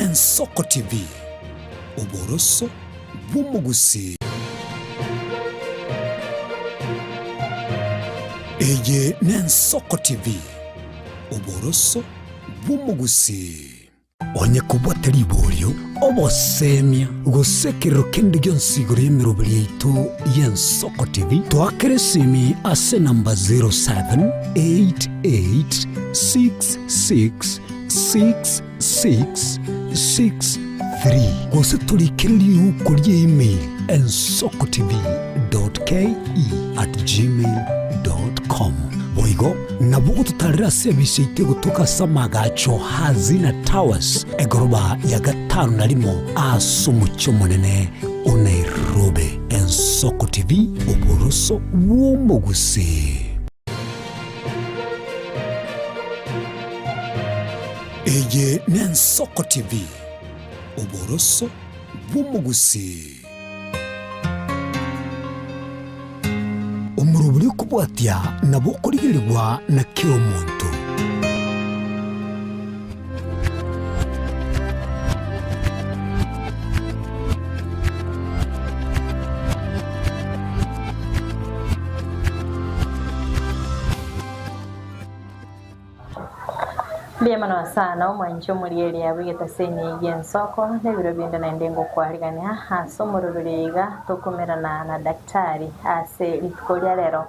Ensoko TV, oboroso bw'omogusii. Eye n'Ensoko TV, oboroso bw'omogusii. Onye kobua tari borio, obosemia, gose ekerero kende gionsi igoro y'emeroberi yaito y'Ensoko TV, toakera esimi ase enamba 0788 66 6 663 gose torikereri yuko ria email ensokotv.ke@gmail.com. Boigo nabwo gototarera ase ebiisio yaito egotoka ase amaagacho Hazina Towers, egoroba ya gatano na rimo ase omochie omonene o Nairobi. Ensokotv, oboroso bw'omogusii. Eye n'Ensoko TV, oboroso bw'omogusii. Omoro buri okobwatia nabo okorigerigwa na kera omonto. Riema na Nyasaye na omwanche omorieri abe egetaseni eyio ensoko na ebiro binde naende ngokwarigania ase omorero riaiga tokomerana na daktari ase rituko ria rero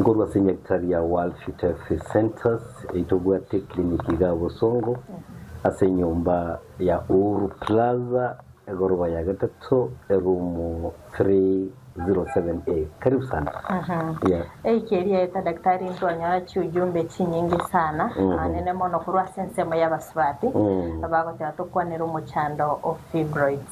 Nkorwa ase enyagitari ya World Futerfee Centres eye tobwate eclinic igaa bosongo ase enyomba ya Uhuru Plaza egoroba ya gatato eroom 307A. Karibu sana. Yeah. Eike erieta daktari ntwanyora chiujumbe chinyinge sana ah, nene mono korwa ase ensemo y'abasubati abagoteba tokwanere omochando o fibroids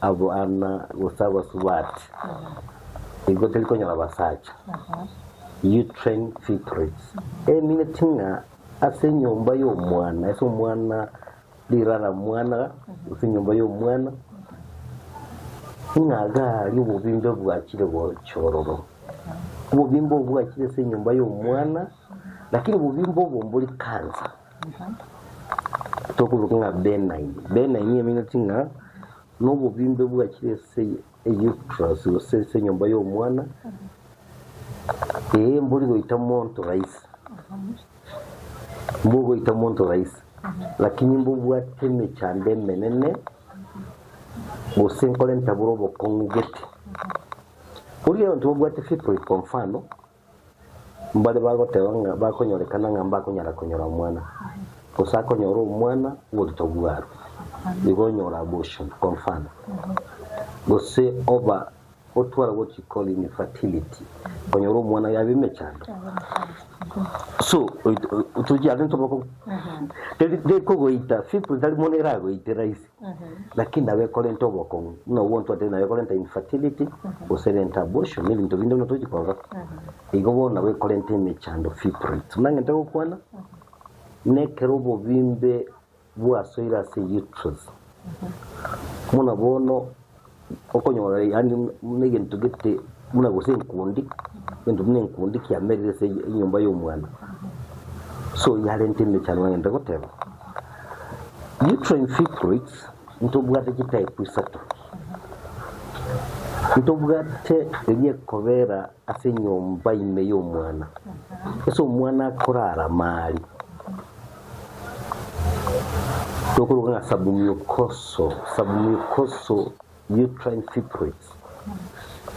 Abana gose abasubati nigo tari konyora abasacha. You train fitris. Emineti ng'a ase enyomba y'omwana, ase omwana rirara mwana, ase enyomba y'omwana, ng'a iga aria obobimbe bwachire gocha ororo. Obobimbe obwo bwachire ase enyomba y'omwana, lakini obobimbe obo mbori cancer. Tokoruka ng'a Benaimi. Benaimi emineti ng'a nobobimbe bwachire ase euterus gose ase enyomba y'omwana, ee mbori goita monto rahisi, mbogoita monto rahisi lakini mbobwate emechando emenene gose nkore ntabore obokong'u gete. Boria abanto babwate fibroid kwa mfano. Mbare bagoteba ng'a bakonyorekana ng'a mbakonyara konyora omwana, gose akonyora omwana oborito bw'arwe, igo onyore abortion, confirm, gose oba otware what you call infertility, konyora omwana yaba emechando. So tochi ase ntoboko teri teri kogoita simple tari mono eragoite rahisi. Lakini nabo ekorenta obokong'u ng'a gwonsi otari naye ekorenta infertility gose erente abortion na ebinto binde buna tochi korora. Igo bono nabo ekorenta emechando fibroids. Buna ng'ente gokwana nekero obobimbe bwasoire ase uterus buna bono Okonyora yaani buna egento gete buna gose enkundi egento buna enkundi kiamerire ase enyomba y'omwana so yarenta emechando ng'anyete goteba uterine fibroids ntobwate chitype isato ntobwate eria ekobera ase enyomba ime y'omwana, ase omwana akorarama aria, tokoruga ng'a submucosal, submucosal uterine fibroids.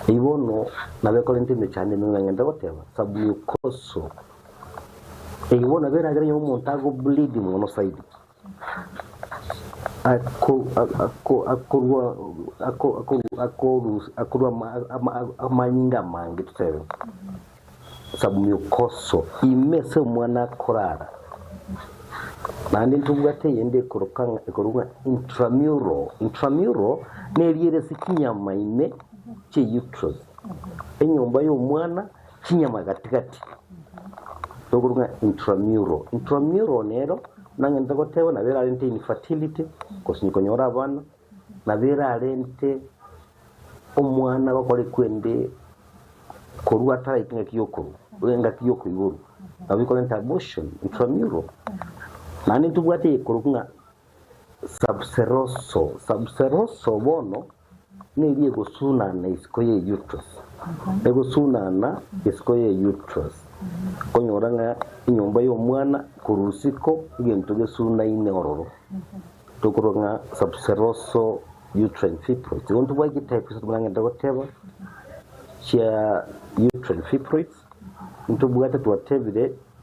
Eyio bono nabo ekorenta emechando ime ng'ang'enta goteba submucosal. Eyio bono nabo eragere onye omonto ago bleed mono zaidi. akorua amanyinga amange totebe Samiokoso ime ase omwana akorara naende ntobwate eyende ekoroka ng'a intramural intramural neriere ase chinyama ime chie uterus enyomba y'omwana chinyama gatigati nokorwa ng'a intramural. Intramural nero nang'entete goteba nabo erarente infertility gose konyora abana nabo erarente omwana gokora ekwende korwa ataraika engaki yokorwa engaki yokoiborwa nabo ekorenta abortion intramural. Naende ntobwate ekorokwa ng'a Sabuseroso Sabuseroso bono neri egosunana isiko ya Eutrus Egosunana isiko ya Eutrus Okonyora ng'a enyomba y'omwana korwa isiko egento gesunaine ororo tokorwa ng'a Sabuseroso Uterine Fibroids Igo ntobwate ki types twaragete goteba chia Uterine Fibroids Ntobwate twatebire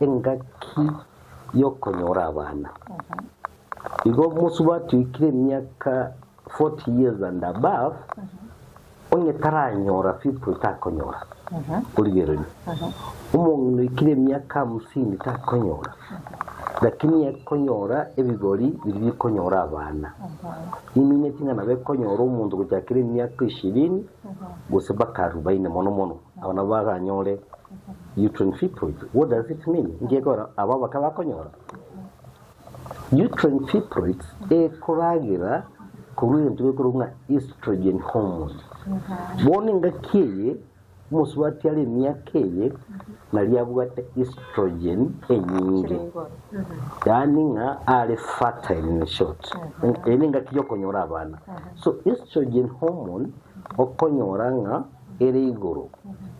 Engaki y'okonyora abana. Igo mosubatwekire emiaka 40 years and above, onye taranyora fifty takonyora origererio, omong'ina oikire emiaka hamsini takonyora, lakini ekonyora ebigori biri bikonyora abana. Niminyetie ng'a nabo ekonyora omonto gochakera emiaka ishirini gose mpaka arubaini mono mono. Aba nabwo baganyore Utrine fibroids. What does it mean? Ngegora aba baka bakonyora Utrine fibroids ekoragera korwa egento gekorwa ng'a estrogen hormone. Bono engaki eye omosubati are emiaka eye nari abwate estrogen enyinge. Yaani ng'a are fertile in short. Eye nengaki yokonyora abana. So estrogen hormone okonyora ng'a ere igoro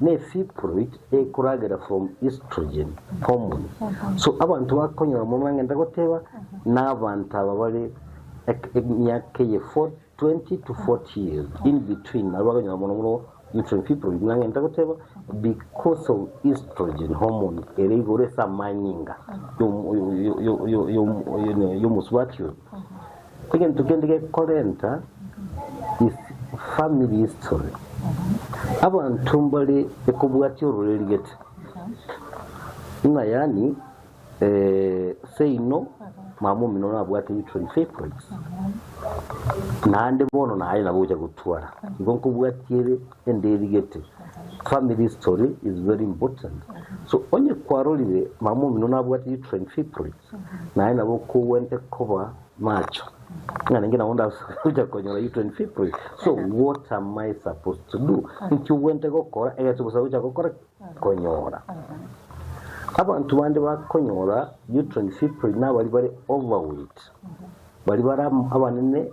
ne fiprit ekoragera from estrogen hormone so abanto bakonyora mono bangenta goteba nabanto aba bare emiaka eye 20 to 40 years in between nabo bakonyora mono mono infant fiprit nangenta goteba because of estrogen hormone ere igoro ase amanyinga yomosubati oyo Egento kende gekorenta is family history. Abanto mbare ekobwatia ororeri gete ng'a yaani eh, seino mama omino nabwate uterine fibroids naende bono naye nabo ogocha gotwara igo nkobwatia ere enderi gete family history is very important so onye kwarorire mama omino nabwate uterine fibroids Naye nabo okogwente koba macho ng'a ninki nabo ndagocha konyora you 25 pray so what am I supposed to do ninki ogwente gokora egento bosa gocha gokora konyora Abanto bande bakonyora you 25 pray nabari bare overweight bari bare abanene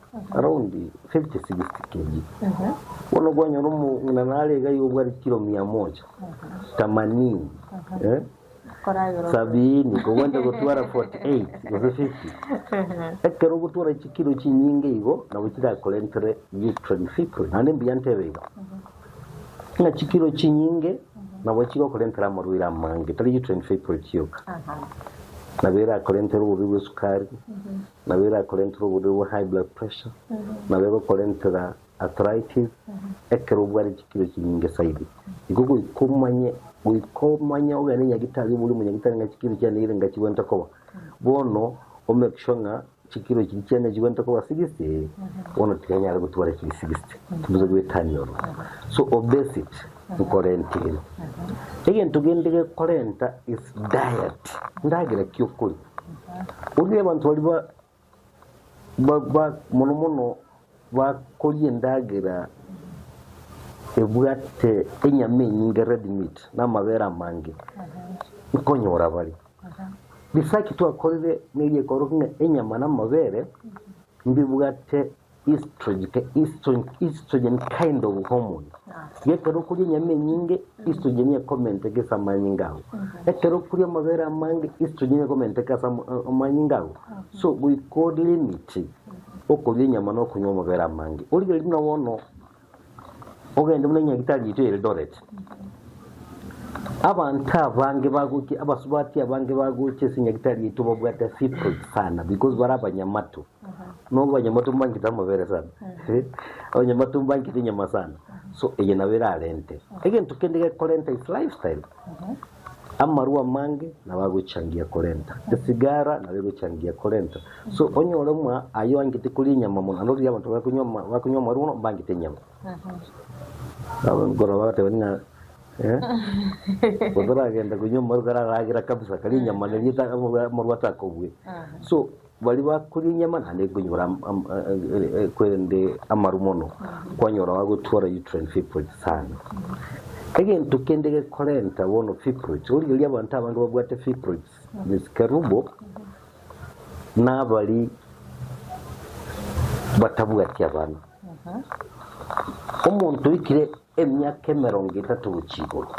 Bono kwanyora omong'ina nare iga y'obware kilo mia moja, tamanini, sabiini, kogwenta gotwara forty eight gose fifty. Ekero ogotwara chikilo chinyinge igo nabo chirakorentire victory in victory. Naende mbuya ntebe iga, ng'a chikilo chinyinge nabo chigokorentera amarwaire amange, tari victory in victory yoka. Nabo erakorentera obobe bw'esukari, nabo erakorentera oborwaire bwa high blood pressure, nabo egokorentera arthritis ekero obwate chikiro chinyinge saidi. Igo goika omanye, goika omanye ogende nyagitari oborie omonyagitari ng'a chikiro chiane nigo ngachigwente koba, bono o make sure ng'a chikiro chiria chiane chigwente koba sixty, eh, bono tikanyare gotwara chiri sixty, tibisa goetania ororo. So obesity nkorenta ere. Egento kende gekorenta is diet, endagera ki okoria. Onye abanto baria mono mono bakoria endagera ebwate enyama enyinge, red meat, na amabere amange, nkonyora bare. Research twakorire neyio ekorokina enyama na amabere mbibwate Estrogen ke estrogen, estrogen kind of hormone. Gekero okuria enyama enyinge, estrogen ekomenteka ase amanyinga ago. Ekero okuria amabere amange, estrogen ekomenteka ase ama- a- amanyinga ago. So goika olimit okuria enyama na okonywa amabere amange. Origereria buna bono Ogende buna Nyagetari yaito Eldoret. Abanto abange bagocha abasubati abange bagocha ase Nyagetari yaito babwate secret sana because bare abanyamato. No abanyamato mbangete amabere sana. abanyamato mbangete enyama sana. So eye nabo erarente. Egento kende gekorenta is lifestyle. Amarwa amange nabo agochangia korenta esigara, nabo egochangia korenta so onyore omwa aye oangete koria enyama mono, naende riria abanto bakonywa ama- bakonywa amarwa bono mbangete enyama. Nabo nkoro bagateba ng'a eh, gose oragenda konywa amarwa kare aragera kabisa, kare enyama neri eta- amarwa atakobue so. Baria bakoria enyama naende nkonyora korende amaru mono kwanyora agotwara uterine fibroids sana. Egento kende gekorenta bono fibroids origereria abanto abange babwate fibroids miskerubo nabari batabwati abana. Omonto oikire emiaka emerongo etato gochia igoro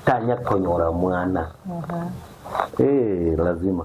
tanya konyora mwana ee lazima.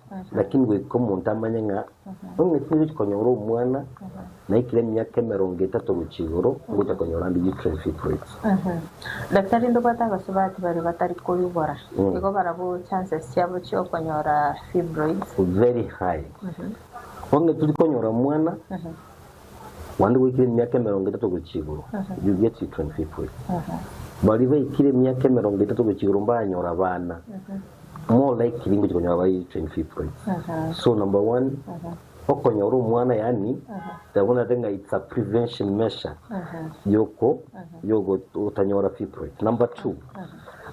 Lakini goika omonto amanye ng'a ong'iti nigochia konyora omwana naikire emiaka emerongo etato gochia igoro, ngochia konyora ande uterine fibroids. Daktari, ndobwate abasubati baria batari koigora, igo barabwo chances chiabo chi'okonyora fibroids? Very high. Ong'iti konyora omwana Naende goikire emiaka emerongo etato gochia igoro, you get it, 25 week. Baria baikire emiaka emerongo etato gochia igoro mbanyore abana, more likely ngochia konyora bari 25 week. So number one, okonyora omwana yaani tari buna ate ng'a it's a prevention measure yoko yogo otanyora fibroid. Number two,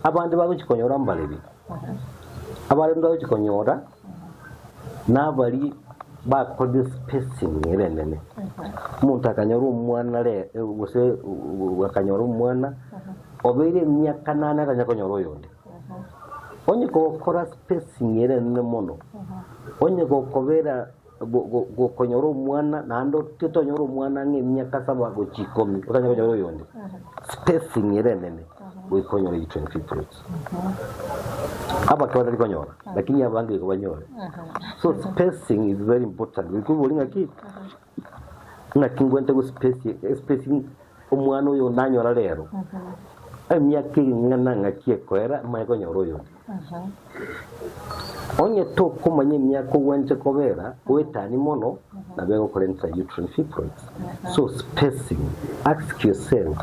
abande bagochia konyora mbarebe, abande bagochia konyora Nabari bakoria spacing erenene omonto akanyora omwana re gose akanyora omwana obeire emiaka nane atanya konyora oyonde onye gokora spacing erenene mono onye gokobera gokonyora omwana naende totonyora omwana ng'a emiaka saba gochia ikomi otanya konyora oyonde spacing ere enene goika onyore eyi 25 plots abake batari konyora lakini abange goika banyore so spacing is very important goika obori ng'a ki ng'a ki ngwente go space- spacing omwana oyo nanyora rero emiaka eri ing'ana ng'aki ekoera manye konyora oyonde Onye tokomanya emiaka ogwenerete kobera, goetani mono nabo egokorenta uterine fibroids. So spacing, ask yourself,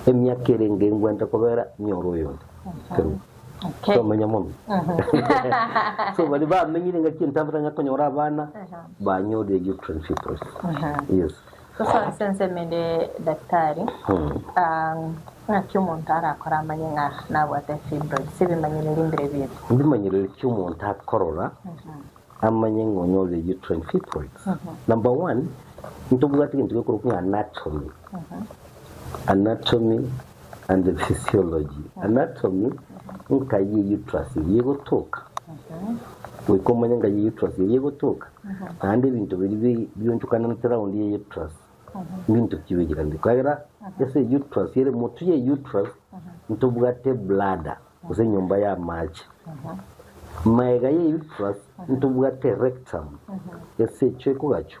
emiaka ere enga engwenerete kobera nyore oyonde? Kerubo. Tomanya mono. So baria bamenyire ngaki entambe tanyara konyora abana, banyorire uterine fibroids. Yes. Ase ense ensemo ere edaktari, ng'aki omonto arakore amanye ng'a nabwate fibroids, ebimanyereri mbire bire? Ebimanyereri ki omonto akorora amanye ng'a onye ore uterine fibroids, number one, ntobwate egento gekorokwa ng'a anatomy, anatomy and physiology, anatomy, nka ye uterus eria egotoka, goika omanye nka ye uterus eria egotoka, naende ebinto biria bi- bionchokananete round ye uterus, mbinto ki bichikanete, ekiagera ase uterus ere motu ye uterus ntobwate bladder, gose enyomba y'amache, maega ye uterus ntobwate rectum, esecho ekogachwa.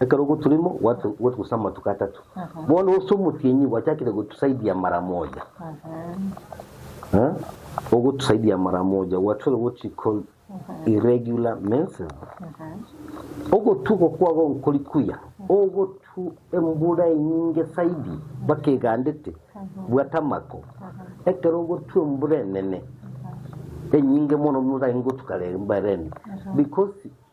Ekero ogoturimo gwatugusa amatuko atato, bono ase omotienyi gwachakire gotusaidia mara moja. Ogotusaidia mara moja gwachorire what we call irregular menses. Ogotwa oko kwabo nkori kuya, ogotwa embura enyinge saidi mpaka egandete, bwata amako. Ekero ogotwa embura enene enyinge mono nigo otagete gotwa karere mbareni because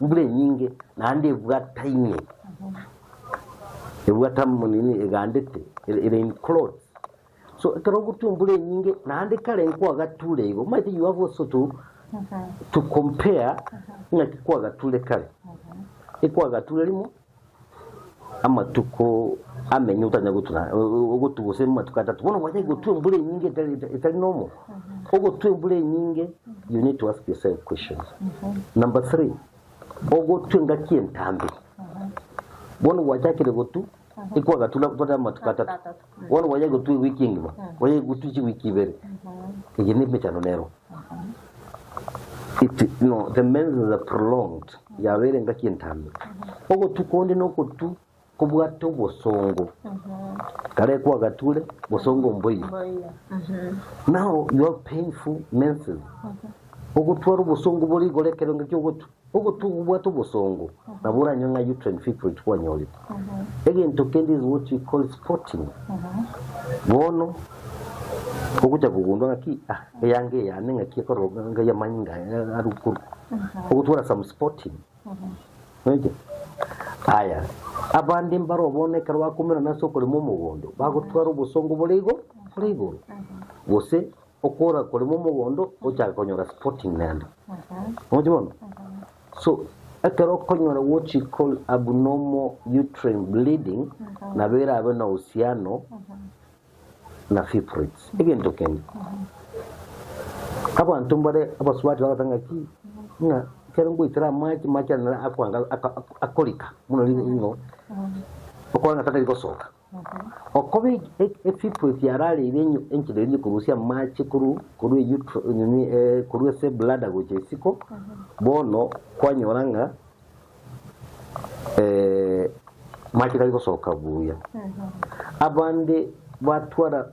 Mbura enyinge naende ebwata ime, ebwata mo nini egandete e- rain cloth. So ekero ogotwa embura enyinge naende kare nkwagature igo omanyete you have also to, to compare ng'aki kwagature kare ekwagature rimo Amatuko amenye otanya gotura, ogotu gose amatuko atato. Bono gwachaki gotua embura enyinge etari etari normal. Ogotua embura enyinge you need to ask yourself questions. Number three, ogotua engaki entambe. Bono gwachakire gotu, ikwagatura gotari amatuko atato. Bono bwayegutwa ewiki engima, bwayegutwa chiwiki ibere, eye nemechando nero. It, no, the menses are prolonged, yabeire engaki entambe. Ogotu konde nogotu kobwate obosongo, kare kwagature bosongo mboiyo. Mboiyo. Mhm. Now you have painful menses. Ogotwara obosongo bore igoro ekero engaki ogotu. Ogotugubwa tobosongo nabo oranywe ng'a uterine fibroid kwanyorire. Egento kende is what we call spotting. Bono ogocha kogundwa ng'aki ah eyange eyane ng'aki ekororoka ngai amanyinga arukorwa. Ogotwara some spotting. Oite? Aya. Abande mbaro bono ekero bakomerana ase okorema omogondo bagotwara obosongo bore igoro bore igoro. Gose Okora korema omogondo ochake konyora sporting nende. Mokimona? So ekero okonyora what you call abnormal uterine bleeding nabo erabe na uhusiano na fibroids. Egento kende. Abanto mbare abasubati bagoteba ng'aki ng'a ekero ngoitera amache amache aya nere akwanga akorika muno ring'o okore ng'a tari gosoka. Okobe ebifu ebiarareire enchera eria ekorusia amache korwa ase eblada gocha isiko, bono kwanyora ng'a amache tari gosoka buya. Abande batwara.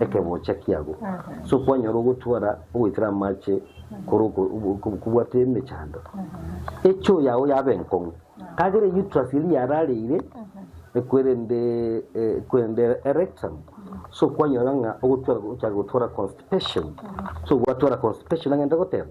Ekebocha kiabo, sokwanyora ogotwara ogoitera amache kore kobwate emechando. Echoo yao yabe enkong'u, kagere eutrus eria yarareire ekwerende ekwerende erectum, sokwanyora ng'a ogotwara ochaka gotwara constipation, sogwatwara constipation agende goteba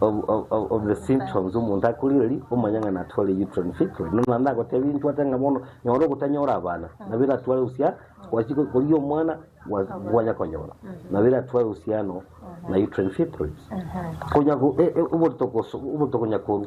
of the symptoms omonto akoriri omonyang'ani atware uterine fistula no naende agotebie intwe ate ng'a bono nyora ogotanyora abana nabo eratware usia gwachia ko- koria omwana gwa- gwanya konyora nabo eratware usia ano na uterine fistula konya ko- e- e- oborito koso oborito konya korwa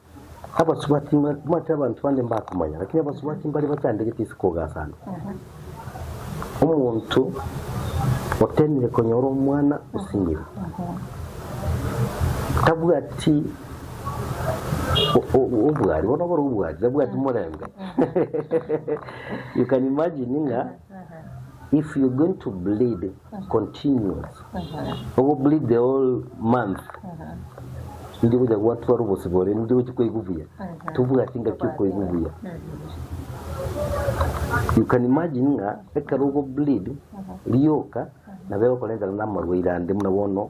Abasubati mati abanto bande mbakomanya, lakini abasubati mbare bachandegete ase kogasana. Omonto otemire konyora omwana osimire, tabwati o- o- obwari, bono obore obwari, tabwati morembe. You can imagine ng'a if you're going to bleed continues ogo bleed the whole month ndi gocha gwatwara obosi bore ndi gochi koigwa buya tobwati ngaki okoigwa buya you can imagine ng'a ekero ogo bleed rioka nabo egokorentana na amarwaire ande buna bono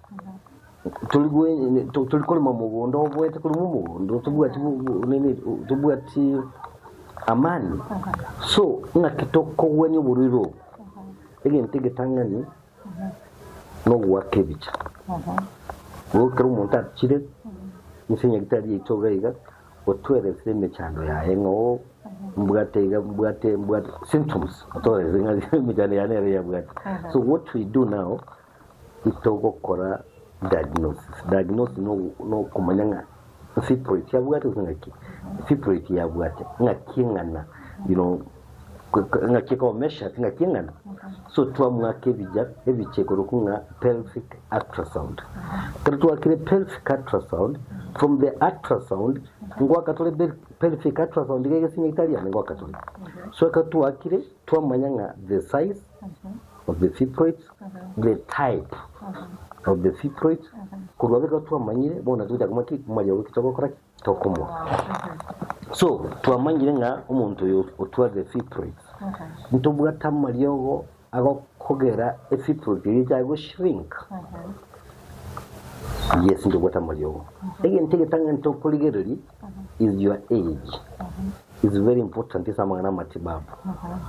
Tori korema omogondo oboete, korema omogondo otobwati otobwati amani. So ng'aki tokogwenia oborwaire obo? Egento egetang'ani nogoaka ebicha. Igo ekero omonto achire inse nyagetari yaito iga iga otwerese emechando yaye ng'a oo mbwate iga mbwate mbwate symptoms otwerese ng'a emechando yane nere yabwate. So what we do now Titogokora diagnosis. Diagnosis no nokomanya ng'a nsipro eki abwate gose ng'aki nsipro eki yabwate ng'aki eng'ana you know ng'aki eko measures ng'aki eng'ana so twamwaka ebija ebiche ikoruku ng'a pelvic ultrasound kero twakire pelvic ultrasound from the ultrasound ngoaka tore pelvic ultrasound iga egesinya etari yane ngoaka tore so ekero twakire twamanya ng'a the size of the fibroids, the type of the fibroids, korwa abere igo twamanyire bono togocha komanya ki omobaria ogo ki togokora ki tokomoa. So twamanyire ng'a omonto oyo otwa the fibroids, ntobwate amariogo agokogera efibroids eria echaye go shrink. Yes ntobwate amariogo. Egento egetang'ani tokorigereria is your age is very important ase amang'ana amatibabu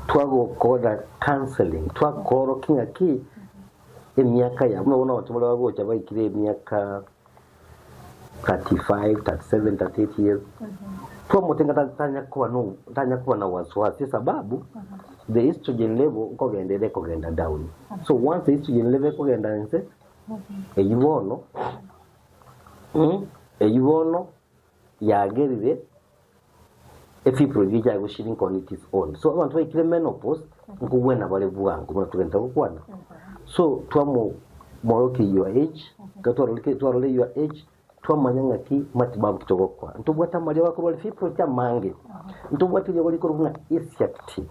twagokora counseling twakorokia ng'aki emiaka yabo nabo nabato baria bagocha baikire emiaka 35 37 38 years twamotenga ta- tanya kuba no tanya kuba na wasiwasi sababu the estrogen level nkogenda ere kogenda down so once the estrogen level ekogenda nse eyi bono Ing. Eyio bono yagerire efifure biria chiaye gose shrink on its own. So abanto baikire menopause nkogwena bare bwango buna togenta gokwana. So twamo morokia your age, ekero twarorike twarore your age twamanya ng'aki matibabu ki togokora. Ntobwate amaria bakorwari fibroid amange. Ntobwate eria barikoro buna ischiatic.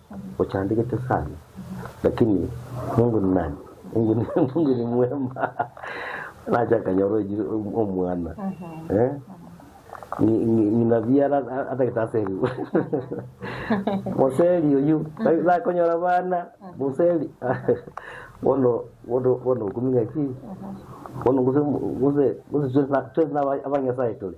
Ochandegete sana lakini Mungu ni nani? Mungu ni Mungu ni mwema nache akanyora oiri omwana eh? Ngi- ngi- ng'ina biara atagete aseri moseri oyu nakonyora bana moseri bono bono bono okumenya ki bono gose gose gose twese na- twese naba abanyasaye tore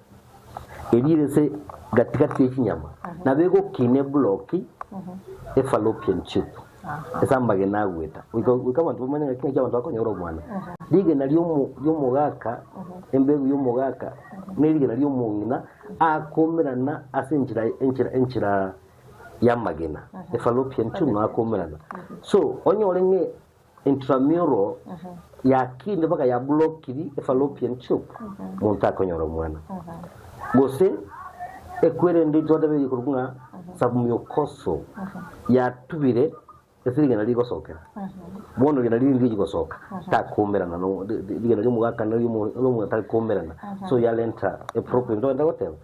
erire ase gati-gati ye chinyama, nabo egokina ebloki e fallopian tube ase amagena agweta goika goika abanto bamanye ng'aki ng'aki abanto bakonyora omwana. Rigena riomo riomogaka, embegu y'omogaka na erigena ri'omong'ina akomerana ase enchera enchera enchera y'amagena, e fallopian tube nabo akomerana. So, onyore ng'a Intramural yakinde mpaka ya blokiri e fallopian tube monto takonyora omwana. Gose ekwere ende intwatebete ekorokwa ng'a submucosal yatubire ase rigena rigosokera. Bono rigena riri ndiriri gosoka takomerana no rigena riomogaka na riomogaka tari komerana so yarenta a problem intogwete goteba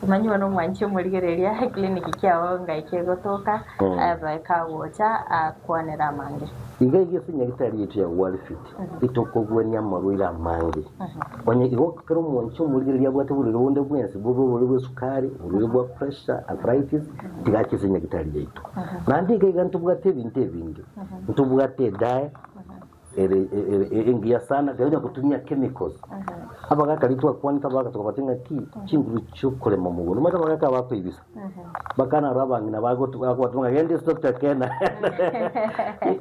Kimanywa nomwanchi omorigereria, eclinic kiao ngaike egotoka, ebe kagocha akwanere amange. Iga erio esenyagitari yaito ya Walfit itokobuania amarwaire amange. Onye igo, kera omwanchi omorigereria abwate oborwaire bonde bwensi, bobe oborwaire bw'esukari, oborwaire bwa pressure, arthritis, tiga ache esenyagitari yaito. Naende iga iga ntobwate ebinto ebinge, ntobwate edae, ere ere- ere engiya sana tiga onya gotumia chemicals abagaka riria twakwanete abagaka tokobwate ng'aki chinguru chiokorema omogunda omanyete abagaka aba bakoibisa bakana aro abang'ina bagotu- bagoteba ng'a genda esitokta kena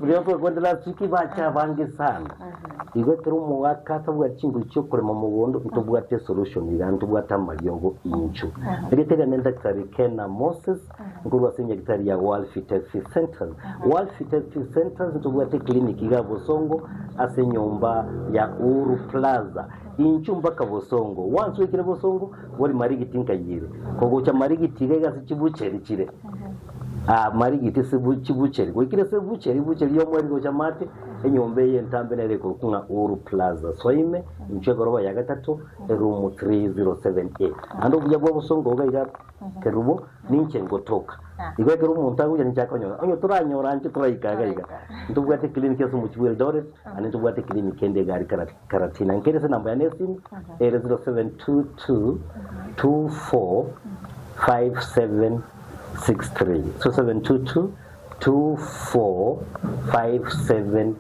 riria twakwanete last week bacha abange sana igo ekero omogaka atabwati chinguru chiokorema omogunda ntobwate esolution iga ntobwate amariogo inche erio teri ande ntakitari kena moses Nkorwa ase enyagitari ya World Fertility Centres. World Fertility Centres ntobwate eclinic iga Bosongo ase enyomba ya Uhuru Plaza. Inchu mpaka Bosongo. Once oikire Bosongo, bori Marigiti nkayi ere. Kogocha Marigiti iga iga ase chibucheri chire. Ah, Marigiti ase bu- chibucheri. Goikire ase ebucheri, ebucheri yomo eri gocha mate, enyomba eye entambe nere ekorokwa ng'a Uhuru Plaza. Soa ime, inchu egoroba ya gatato, eroom 307A. Naende obuya bwa Bosongo iga iga Kerubo, ninche ngotoka. Igo ekero omonto agocha ninche akonyora. Onye toranyore anche toraika iga iga. Ntobwate eclinic ase omochie bwa Eldoret, ande ntobwate eclinic ende egari Kara- Karatina. Nkere ase enamba yane y'esimu ere 0722245763. 0722245763.